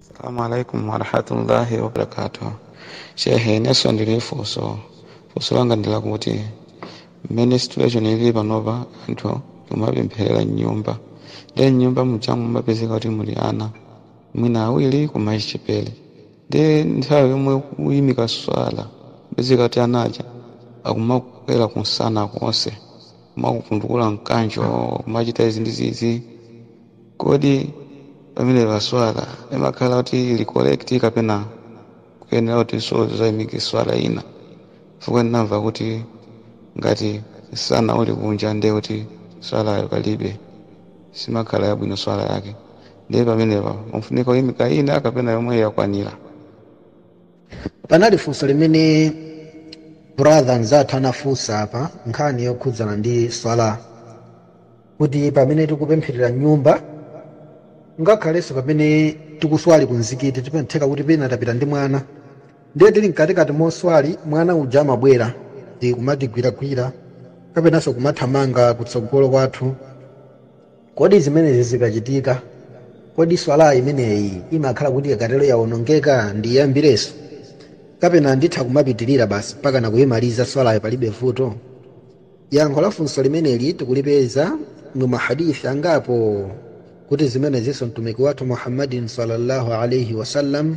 Assalamu alaikum warahmatullahi wabarakatuh. Shehe nanenso ndili ndi funso, funso langa ndi lakuti mmene situation ili panopa anthu kumapempherera mnyumba nde mnyumba muja kumapezeka kuti muli ana mwina awiri koma achichepere nde nthawi yomwe kuyimika swala mapezeka kuti anaja akumakwera kumsana konse kumakuvundukula mkanjo kumachita izi ndi izi kodi pamenepa swala imakhala kuti ili correct kapena ukuyenera kutinso uzaimike swala ina chifukwa ndinamva kuti ngati msana uli kunja ndiye kuti swalayo palibe simakhala yabwino swala yake ndiye pamenepa pafunika kuimika ina kapena yomweyo yakwanira panali funso limene brother mzathu anafunsa apa nkhani yokhudzana ndi swala kuti pamene tikupempherera mnyumba ngakhalenso pamene tikuswali ku mzikiti ndi zotheka kuti pena tapita ndi mwana ndiye tili mkatikati moswali mwana uja amabwera ndi kumatigwiragwira kapenanso kumathamanga kutsogolo kwathu Kodi zimenezi zikachitika, kodi Swalah imeneyi imakhala kuti ikatero yawonongeka ndiyiyambirenso? Kapena nditha kumapitirira basi mpakana kuyimaliza Swalayo palibe vuto? Yankho la funso limeneli tikulipeza mu ma Hadith angapo kuti zimenezinso Mtumiki wathu Muhammadin sallallâhu alaihi wa sallam,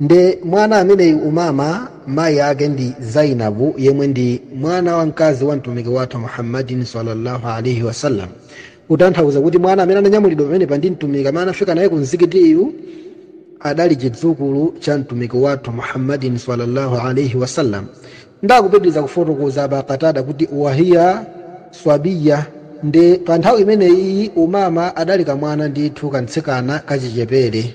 nde mwana ameneyu umama mayi ake ndi zainabu yemwe ndi mwana wamkazi wa mtumiki wathu muhammadin sallallahu alaihi wasallam kutanthauza kuti mwana amene ananyamulidwa pamenepa ndi mtumiki amene anafika naye ku mzikitiyu adali chidzukulu cha mtumiki wathu muhammadin sallallahu alaihi wasallam ndakupitiriza kufotokoza aba katada kuti wahiya swabiya nde pa nthawi imeneyi umama adali kamwana ndithu kamtsikana kachichepere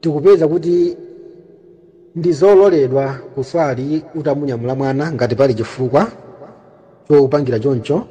Tikupeza kuti ndi zololedwa kuswali utamunyamula mwana ngati pali chifukwa chopangira choncho,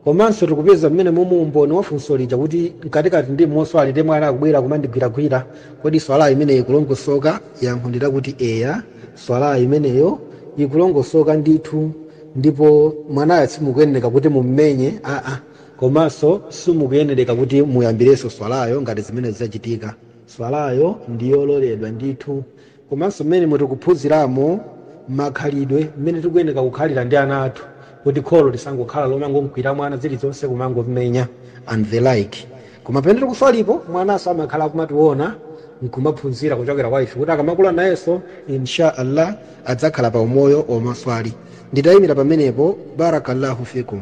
komanso tikupeza mmenemu umboni wa funso lija kuti mkatikati ndi moswali ndiye mwana akubwera kumandigwiragwira, kodi Swalah imeneyo ikulongosoka? Yankho ndi lakuti eya, Swalah imeneyo ikulongosoka ndithu ndipo mwanayo simukuyenereka kuti mummenye ah-ah, komanso simukuyenereka kuti muyambirenso Swalayo ngati zimenezo zachitika. Swalayo ndi yololedwa ndithu. Komanso mmenemo tikuphunziramo makhalidwe, mmene tikuyenera kukhalira ndi ana athu kuti kholo lisangokhala lomangomkwiyira mwana zilizonse, kumangommenya and the like. Koma pamene tikuswalipo, mwananso amakhala akumationa nkumaphunzira kuchokera kwa ife kuti akamakula nayenso in sha Allah adzakhala pa umoyo womaswali. Nditaimira pamenepo, Barakallahu fikum.